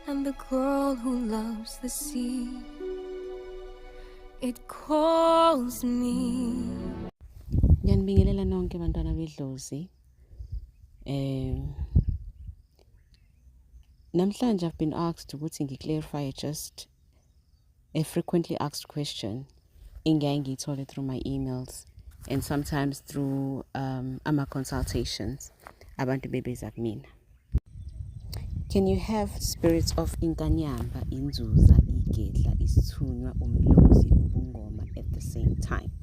And the girl who loves the sea It calls me Ngiyanibingelela nonke bantwana bedlozi eh namhlanje I've been asked ukuthi ngiclarify just A frequently asked question engiyaye ngiyithole through my emails and sometimes through um, ama-consultations abantu bebeza kumina can you have spirits of inkanyamba inzuza igedla isithunywa umlozi ubungoma at the same time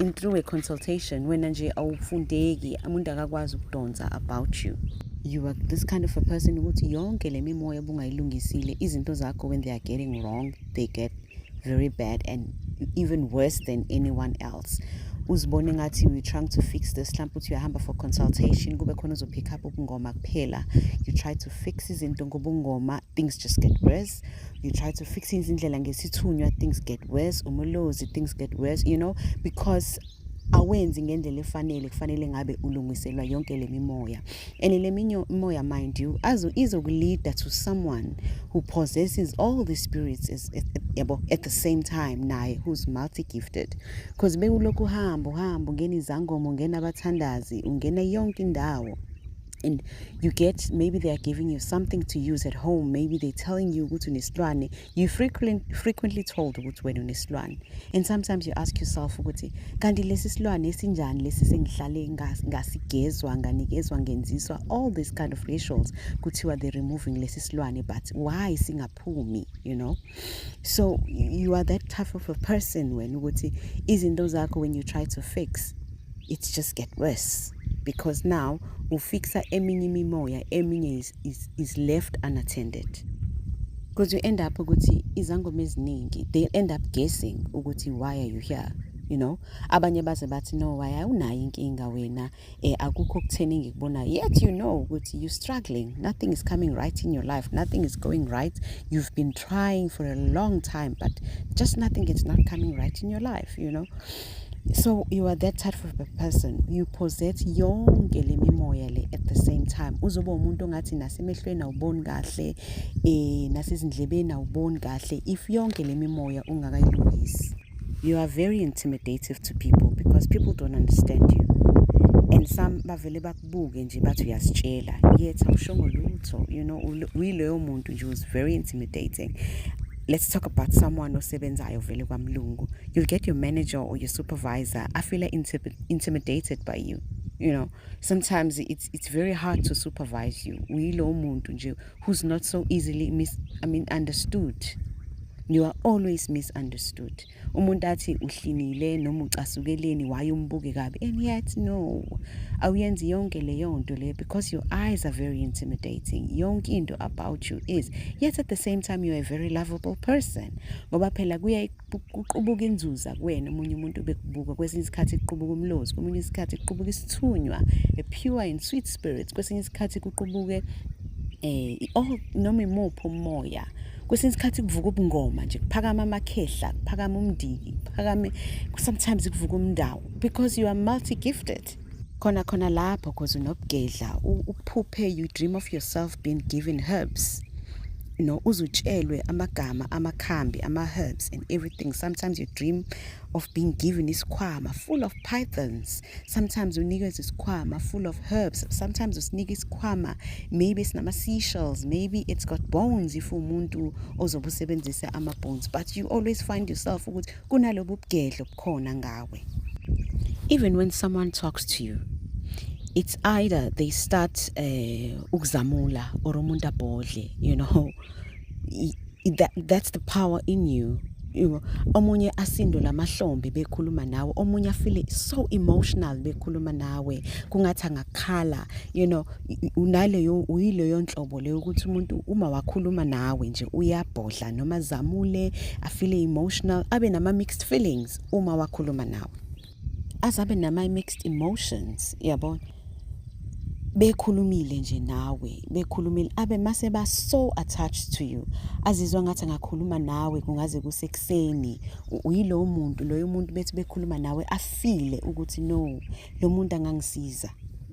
in through a consultation wena nje awufundeki umuntu akakwazi ukudonsa about you you are this kind of a person ukuthi yonke le mimoya obungayilungisile izinto zakho when they are getting wrong they get very bad and even worse than anyone else uzibone ngathi we trying to fix this mhlawumpe uthi uyahamba for consultation kube khona uzopick up ubungoma kuphela you try to fix izinto ngobungoma things just get worse you try to fix izindlela ngesithunywa things get worse umulozi things get worse you know because awenzi ngendlela efanele kufanele ngabe ulungiselwa yonke le mimoya and le mimoya mind you azo izokuleader to someone who possesses all the spirits is, is, yabo at the same time naye who's multi gifted because bekulokhu uhamba uhamba ungena izangoma ungena abathandazi ungena yonke indawo and you get maybe they are giving you something to use at home maybe they're telling you ukuthi unesilwane you frequently, frequently told ukuthi wena unesilwane and sometimes you ask yourself ukuthi kanti lesi silwane esinjani lesi sengihlale ngasigezwa nganikezwa ngenziswa all these kind of rituals kuthiwa they're removing lesi silwane but why singaphumi you know so you are that tough of a person wena ukuthi izinto zakho when you try to fix it just get worse because now ufixa eminye imimoya eminye is, is, is left unattended because you end up ukuthi izangoma eziningi they end up guessing ukuthi why are you here you know abanye baze bathi no why awunayo inkinga wena eh akukho okutheni ngikubona yet you know ukuthi you struggling nothing is coming right in your life nothing is going right you've been trying for a long time but just nothing is not coming right in your life you know so you are that type of a person you possess yonke le mimoya le at the same time uzoba umuntu ongathi nasemehlweni awuboni kahle eh nasezindlebeni awuboni kahle if yonke le mimoya ungakayilungisi You are very intimidative to people because people don't understand you. And some bavele bakubuke nje bathi uyasitshela yet awushongo lutho you know uyileyo muntu nje was very intimidating let's talk about someone osebenzayo vele kwamlungu you'll get your manager or your supervisor I feel intimidated by you you know sometimes it's, it's very hard to supervise you uyilowo muntu nje who's not so easily mis I mean understood you are always misunderstood umuntu athi uhlinile noma ucasukeleni waye umbuke kabi and yet no awuyenzi yonke leyo nto le because your eyes are very intimidating yonke into about you is yet at the same time you are a very lovable person ngoba phela kuya kuqubuka inzuza kuwena omunye umuntu bekubuka kwesinye isikhathi kuqubuka umlozi kwesinye isikhathi kuqubuka isithunywa a pure and sweet spirit kwesinye isikhathi kuqubuke eh oh noma imuphi umoya kwesinye isikhathi kuvuka ubungoma nje kuphakama amakhehla kuphakama umndiki kuphakame sometimes kuvuka umndawo because you are multi gifted right khona khona lapho cause unobugedla uphuphe you dream of yourself being given herbs no uzutshelwe amagama amakhambi ama-herbs and everything sometimes you dream of being given isikhwama full of pythons sometimes unikezwe isikhwama full of herbs sometimes usinika isikhwama maybe sinama-seashells maybe it's got bones if umuntu ozobe usebenzise ama-bones but you always find yourself ukuthi kunalobu bugedlo khona ngawe even when someone talks to you it's either they start eh, ukuzamula or umuntu abhodle you know that, that's the power in you you omunye asindo lamahlombe bekhuluma nawe omunye afile so emotional bekhuluma nawe kungathi angakhala you know unaleyo uyileyo nhlobo leyo ukuthi umuntu uma wakhuluma nawe nje uyabhodla noma zamule afile emotional abe nama mixed feelings uma wakhuluma nawe azabe nama mixed emotions yabona bekhulumile nje nawe bekhulumile abe mase ba so attached to you azizwa ngathi ngakhuluma nawe kungaze kusekuseni uyilowo muntu loyo muntu bethi bekhuluma nawe afile ukuthi no lo muntu angangisiza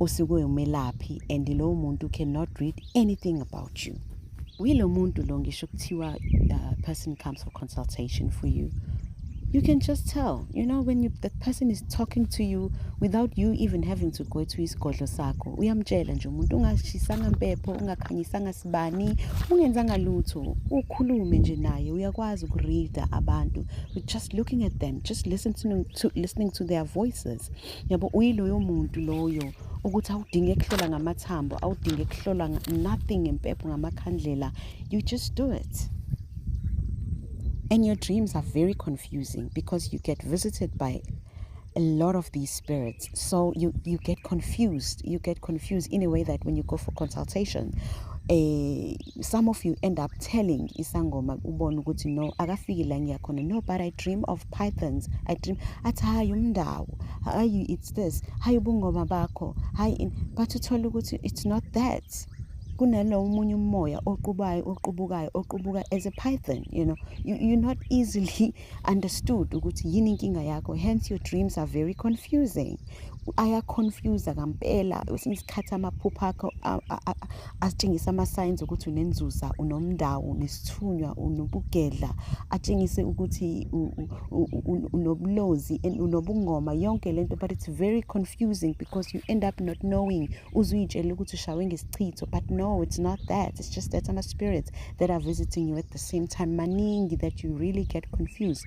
usuke umelaphi and lowo muntu cannot read anything about you wilo muntu lo ngisho kuthiwa uh, person comes for consultation for you you can just tell you know when you, that person is talking to you without you even having to go to isigodlo sakho uyamtshela nje umuntu ungashisanga mpepho ungakhanyisanga sibani ungenzanga lutho ukhulume nje naye uyakwazi ukureada abantu just looking at them just listen to, to, listening to their voices yabo uyiloyo muntu loyo ukuthi awudinge kuhlola ngamathambo awudinge kuhlola nothing ngempepho ngamakhandlela you just do it and your dreams are very confusing because you get visited by a lot of these spirits so you you get confused you get confused in a way that when you go for consultation eh some of you end up telling isangoma ubona ukuthi no akafiki la ngiyakhona no but i dream of pythons i dream athi hayi umndawo hayi it's this hayi ubungoma bakho hayi but uthole ukuthi it's not that kunalo omunye umoya oqubayo oqubukayo oqubuka as a python you know you, you're not easily understood ukuthi yini inkinga yakho hence your dreams are very confusing ayaconfuse kampela kwesinye isikhathi amaphupho akho atshengise ama-signs ukuthi unenzuza unomndawo nesithunywa unobugedla atshengise ukuthi unobulozi and unobungoma yonke le nto but it's very confusing because you end up not knowing uze uyitshele ukuthi ushawe ngesichitho but no it's not that it's just that ama-spirits that are visiting you at the same time maningi that you really get confused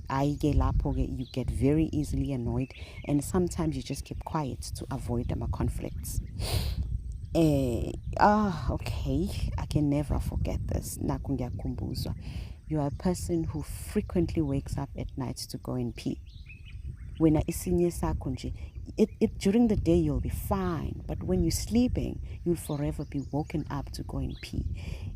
I get lapho ke you get very easily annoyed and sometimes you just keep quiet to avoid ama conflicts eh ah okay i can never forget this naku ngiyakhumbuzwa you are a person who frequently wakes up at night to go and pee wena isinye sakho nje it, it during the day you'll be fine but when you're sleeping you'll forever be woken up to go and pee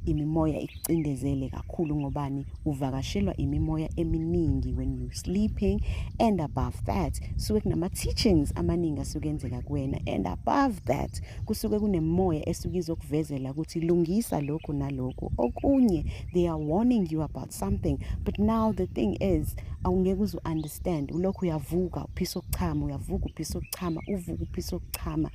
imimoya ucindezele kakhulu ngobani uvakashelwa imimoya eminingi when you sleeping and above that suke kunama-teachings amaningi asuke enzeka kuwena and above that kusuke kunemoya esuke izokuvezela ukuthi lungisa lokhu nalokhu okunye they are warning you about something but now the thing is awungeke uze u-understand ulokhu uyavuka uphisa ukuchama uyavuka uphisa ukuchama uvuka uphisa ukuchama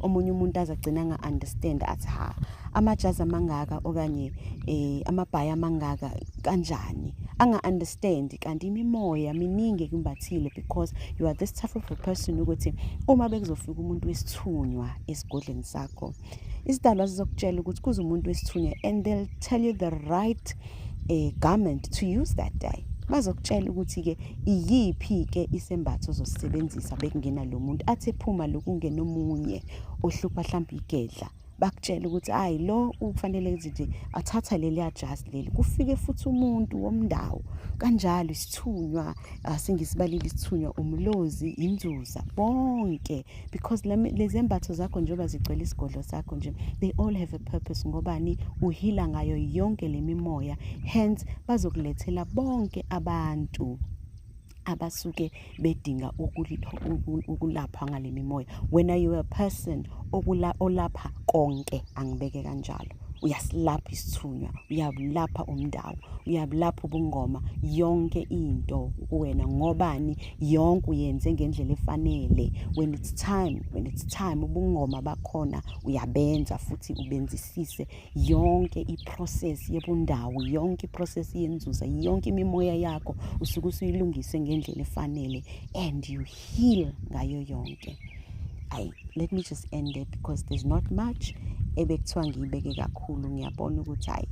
omunye umuntu aze agcina nga-understand athi ha amajazi amangaka okanye um amabhayi amangaka kanjani anga-understand kanti imimoya miningi ekumbathile because you are this type of a person ukuthi uma bekuzofika umuntu wesithunywa esigodleni sakho isidalwa sizokutshela ukuthi kuze umuntu wesithunywa and they'll tell you the right um garment to use that day bazokutshela ukuthi-ke iyiphi-ke isembatho ozosisebenzisa bekungena lo muntu athi ephuma lokungena omunye ohlupha hlampe igedla bakutshela ukuthi hayi lo ukufanele nje athatha leliya jazi leli kufike futhi umuntu womndawo kanjalo isithunywa ah, singisibalile isithunywa umlozi inzuza bonke because lezembatho zakho njengoba zigcwele isigodlo sakho nje they all have a purpose ngobani uhila ngayo yonke le mimoya hence bazokulethela bonke abantu abasuke bedinga ukulapha ngale mimoya wena you a person okula olapha konke angibeke kanjalo uyasilapha isithunywa uyabulapha umndawo uyabulapha ubungoma yonke into kuwena ngobani yonke uyenze ngendlela efanele when it's time when it's time ubungoma bakhona uyabenza futhi ubenzisise yonke iprocess yebundawo yonke iprocess yenzuza yonke imimoya yakho usuke usuyilungise ngendlela efanele and you heal ngayo yonke ayi let me just end it because there's not much ebekuthiwa ngiyibeke kakhulu ngiyabona ukuthi hayi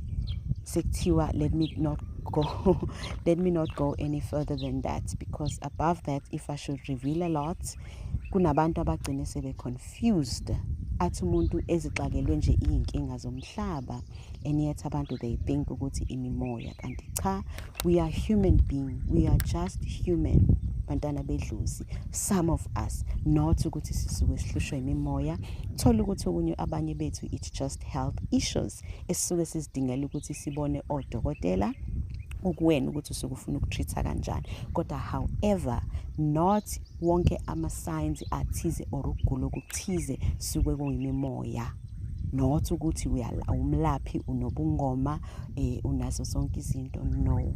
sekuthiwa let me not go let me not go any further than that because above that if i should reveal a lot kunabantu abagcine sebe confused athi umuntu ezixakelwe nje iy'nkinga zomhlaba and yet abantu they think ukuthi imimoya kanti cha we are human being we are just human bantwana bedlozi some of us not ukuthi sisuke sihlushwa imimoya thola ukuthi okunye abanye bethu it's just health issues esisuke sizidingela ukuthi sibone odokotela ukuwena ukuthi usukufuna ukutreat kanjani kodwa however not wonke amasayensi athize or ukugula okuthize suke kuyimimoya not ukuthi umlaphi unobungoma eh unazo zonke izinto no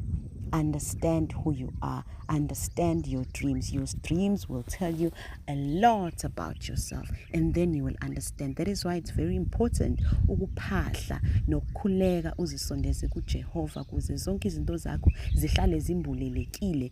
understand who you are understand your dreams your dreams will tell you a lot about yourself and then you will understand that is why it's very important ukuphahla nokukhuleka uzisondeze kuJehova kuze zonke izinto zakho zihlale zimbulelekile